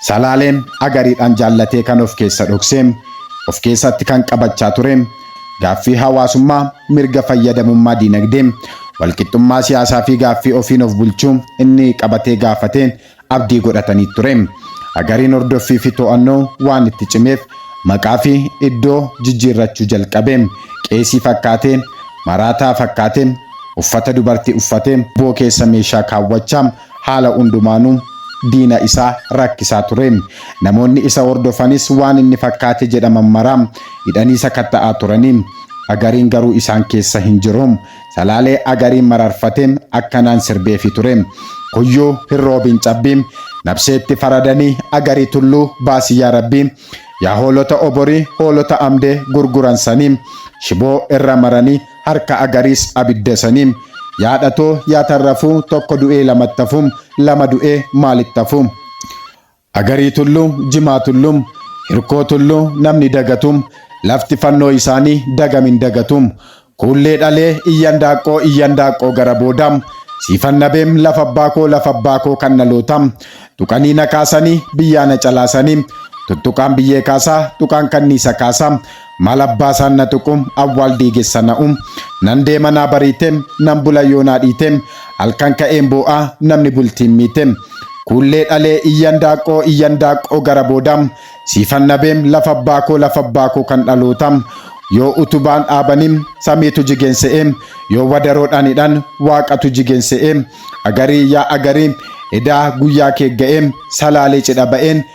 Salaaleen agariidhaan jaallatee kan of keessa dhokse, of keessatti kan qabachaa ture, gaaffii hawaasummaa, mirga fayyadamummaa diinagdee, walqixxummaa siyaasaa fi gaaffii ofiin of bulchuu inni qabatee gaafate abdii godhatanii ture. Agariin hordoffii fi to'annoo waan itti cimeef maqaa fi iddoo jijjiirrachuu jalqabe. Qeesii fakkaatee, maraataa fakkaatee, uffata dubartii uffatee, boo keessa meeshaa kaawwachaa, Haala hundumaanuu diina isa rakkisaa ture. Namoonni isa hordofanis waan inni fakkaate jedhaman mara hidhanii sakatta'aa turani. Agariin garuu isaan keessa hin jiru. Salaalee Agariin mararfate akkanaan sirbeefi ture. Kuyyuu hin roobin cabbi. Nabseetti faradanii Agarii tulluu baasi yaa Rabbii. Yaa hoolota Oborii hoolota Amdee gurguran sanii. Shiboo irra maranii harka agariis abidda sani yaadhato yaa tarrafu tokko du'ee lamattafu lama du'ee maalittafu agarii tullu jimaa tullu hirkoo tullu namni dagatu lafti fannoo isaanii dagamin dagatu kuullee dhalee iyyan daaqqoo iyyan daaqqoo gara booda siifan nabeem lafa abbaa koo lafa abbaa koo kan dhaloota tuqanii na kaasanii biyyaa na calaasanii tuttuqaan biyyee kaasaa tuqaan kanniisa kaasaa Maal abbaa isaan na tuqu awwaal diigessa na'u nan deema naa bariite nan bula yoo naa dhiite halkan ka'een boo'a namni bultiin miite kuullee dhalee iyyan daaqqoo iyyan daaqqoo gara booda siifan nabeem lafa abbaa koo lafa abbaa koo kan dhaloota yoo utubaan dhaabanii samiitu jigeen se'e yoo wadaroodhaan hidhan waaqatu jigeen se'e agarii yaa agarii edaa guyyaa kee ga'ee salaalee cidha ba'een